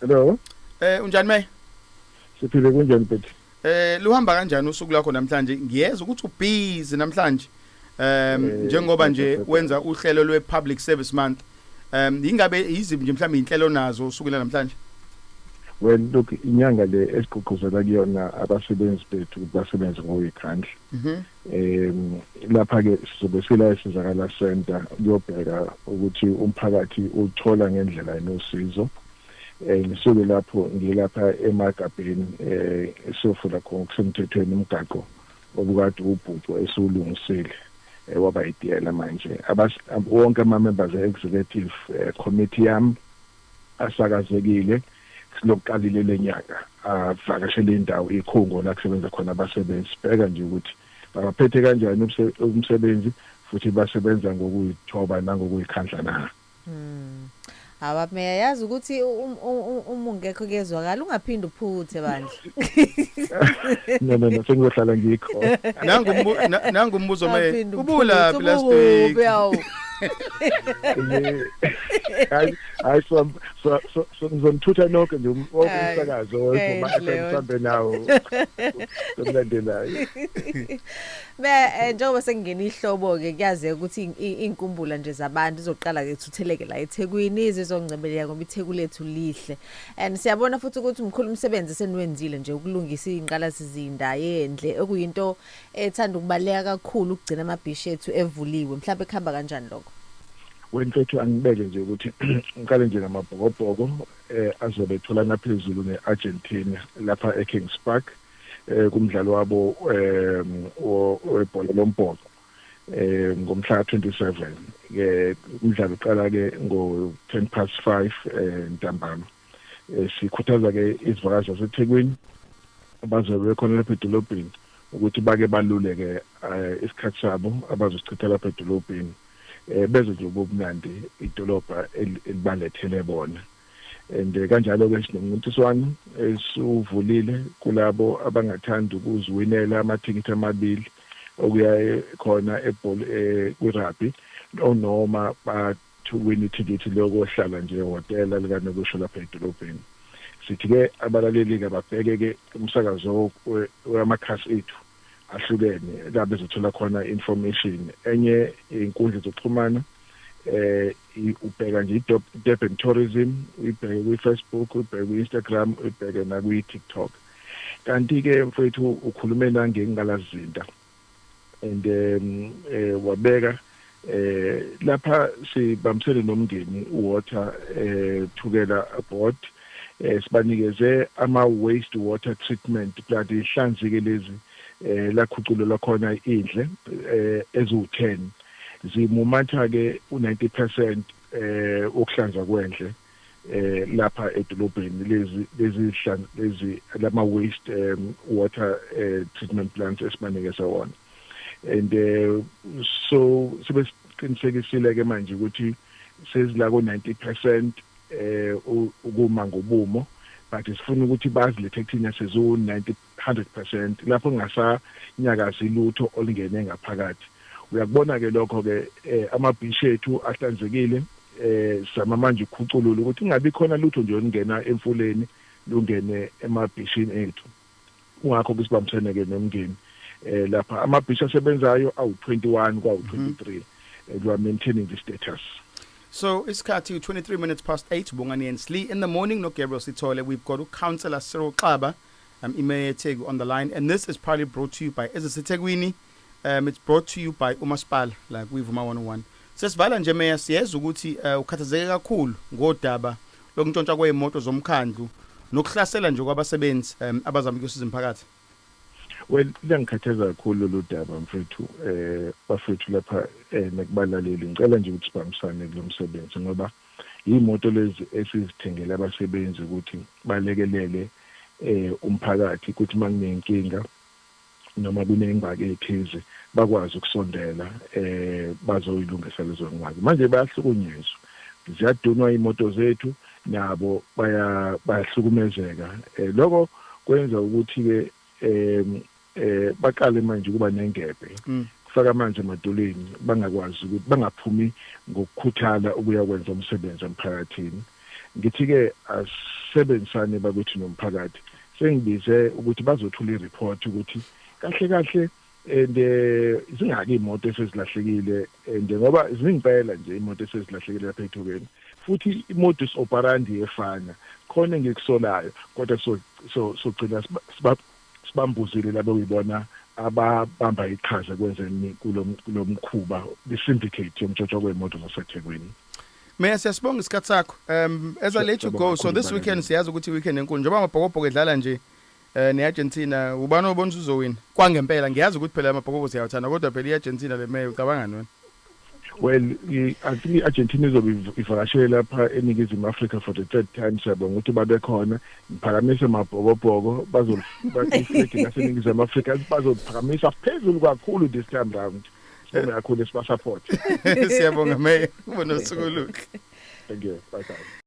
Hello. Eh unjani May? Siphile kunjani bhuti? Eh luhamba kanjani usuku lakho namhlanje? Ngiyeza ukuthi ubhizi namhlanje. Um njengoba nje wenza uhlelo lwe Public Service Month. Um ingabe yiziphi nje mhlawumbe inhlelo nazo usukela namhlanje? well look inyanga le esigqugquzela kuyona abasebenzi bethu ukuthi basebenze ngoyikhandla mhm. um lapha-ke sizobe sila esizakala center kuyobheka ukuthi umphakathi uthola ngendlela enosizo um ngisuke lapho ngilapha emagabheni um siyofuna khona okusemthethweni umgaqo obukade ubhuco esiwulungisile um waba yitiyela manje wonke ama-members e-executive um committee yami asakazekile silokuqalile lenyanga avakashele indawo ikhungo la kusebenza khona abasebenzi sibheka nje ukuthi babaphethe kanjani umsebenzi futhi basebenza ngokuyithoba nangokuyikhandla na hmm. hawa meya yazi ukuthi um, um, um, uma ungekho kuyezwakala ungaphinde uphuthe bandla no no no sengizohlala ngikho nangu umbu- na- nangu umbuzo me Aphinde ubulaphi uphuthe, last week ubukuphi, awu. hayi hayi so so so- so ngizonithutha nonke nje um- wonke Hayi, umsakazo enhle wonke leyo. mhlambe nawo somlandelayo Be eh, njengoba sekungena ihlobo ke kuyazeka ukuthi in- i- inkumbula nje zabantu izoqala ke thutheleke la eThekwini izizongcebeleka ngoba iTheku lethu lihle. And siyabona futhi ukuthi mkhulu umsebenzi seniwenzile nje ukulungisa ingqalasizinda yendle okuyinto ethanda ukubaleka kakhulu ukugcina amabhishi ethu evuliwe mhlawumbe kuhamba kanjani lokho wemfethu angibeke nje ukuthi ngiqale nje ngamabhokobhoko eh azobe etholana phezulu neArgentina lapha eKings Park eh kumdlalo wabo eh webhola lombhoxo eh ngomhla 27 ke umdlalo uqala ke ngo 10 past 5 eh ntambama eh, sikhuthaza ke izivakazi zaseThekwini abazobe bekhona lapha edolobheni ukuthi bake baluleke eh, isikhathi sabo abazochitha lapha edolobheni eh, bezwe nje ubumnandi idolobha elibalethele bona and eh, kanjalo ke sinomncintiswano esuvulile kulabo abangathanda ukuziwinela amathikithi amabili okuya khona ebhol e kwi-rugby o noma ba to win ithikithi lokohlala nje ehhotela likanokusho lapha edolobheni. Sithi-ke abalaleli-ke ababheke-ke umsakazo wamakhasi ethu ahlukene la bezothola khona information. Enye inkundla zokuxhumana eh ubheka nje iDurban Tourism, uyibheke kwi-Facebook, uyibheke kwi-Instagram, uyibheke nakwi-TikTok. Kanti ke mfowethu ukhulume nangengalazinda and um, eh, wabeka eh lapha sibambisene nomndeni water eh thukela board eh sibanikeze ama waste water treatment plant ihlanzike lezi eh lakhuculelwa khona indle eh ezu10 zimumatha ke u90% eh ukuhlanza kwendle eh lapha edolobheni lezi lezi zihlanzi lezi lama waste um, water uh, treatment plants esibanikeza wona and uh, so sebesiqinisekisile ke manje ukuthi sezila ko 90% eh ukuma ngobumo but sifuna ukuthi bazilethe kuthina sezo 90 100 percent lapho kungasanyakazi lutho olungene ngaphakathi. Uyakubona-ke lokho-ke um amabhishi ethu ahlanzekile, um zama manje ukukhuculula ukuthi kungabi khona lutho nje olungena emfuleni lungene emabhishini ethu. Kungakho-ke sibambisene-ke nomndeni um lapha. Amabhishi asebenzayo awu-21 kwawu-23 and we are maintaining this status. So isikhathi u-23 minutes past 8 Bongani Hensley in the morning noGabriel Sithole. We've got uCouncillor Cyril Xaba. I'm iMeya yeTheku on the line and this is proudly brought to you by eziseThekwini um it's brought to you by uMasipala la kwiVuma 101. Sesivala nje Meya siyeza ukuthi uh, ukhathazeke kakhulu ngodaba lokuntshontsha kwezimoto zomkhandlu nokuhlasela nje kwabasebenzi um abazama ukusiza umphakathi. Well liyangikhathaza kakhulu lolu daba mfethu eh bafethu lapha eh nekubalaleli ngicela nje ukuthi sibambisane kulomsebenzi ngoba Yimoto lezi esizithengele abasebenzi ukuthi balekelele umphakathi kuthi makuneyinkinga noma kunengxaki ethize bakwazi ukusondela bazoyilungisa lezo ngxaki. Manje bayahlukunyezwa. Ziyadunwa imoto zethu nabo bayahlukumezeka. Lokho kwenza ukuthi ke eh baqale manje ukuba nengebhe mm. kufaka amanzi emadolweni bangakwazi ukuthi bangaphumi ngokukhuthala ukuya kwenza umsebenzi emphakathini ngithi ke asebenzisane bakuthi nomphakathi sengibize ukuthi bazothula ireport ukuthi kahle kahle and eh, zingaki imoto esezilahlekile and eh, ngoba ziningi phela nje imoto esezilahlekile lapha ethukeni futhi imodus operandi efana khona engikusolayo kodwa so so sogcina Sibambuzile laba okuyibona ababamba iqhaza ekwenzeni kulo mkhuba kwi-syndicate yomtshotshwa kwey'moto zaseThekwini. Meya siyasibonga isikhathi sakho. Um as I let you go, so this weekend siyazi ukuthi i-weekend enkulu njengoba amabhokobhoko edlala nje eh ne-Argentina ubani obona uzowina kwangempela ngiyazi ukuthi phela amabhokobhoko siyawathanda kodwa phela i-Argentina le meya ucabangani wena well i think i-argentina izobe ivakashele lapha eningizimu africa for the third time siyabonga ukuthi babekhona ngiphakamise mabhokobhoko bazoliflegi laseningizimu africa bazoliphakamisa phezulu kakhulu this time round sibonge kakhulu esibasupport siyabonga meya ubonosuku oluhle thank you bye bye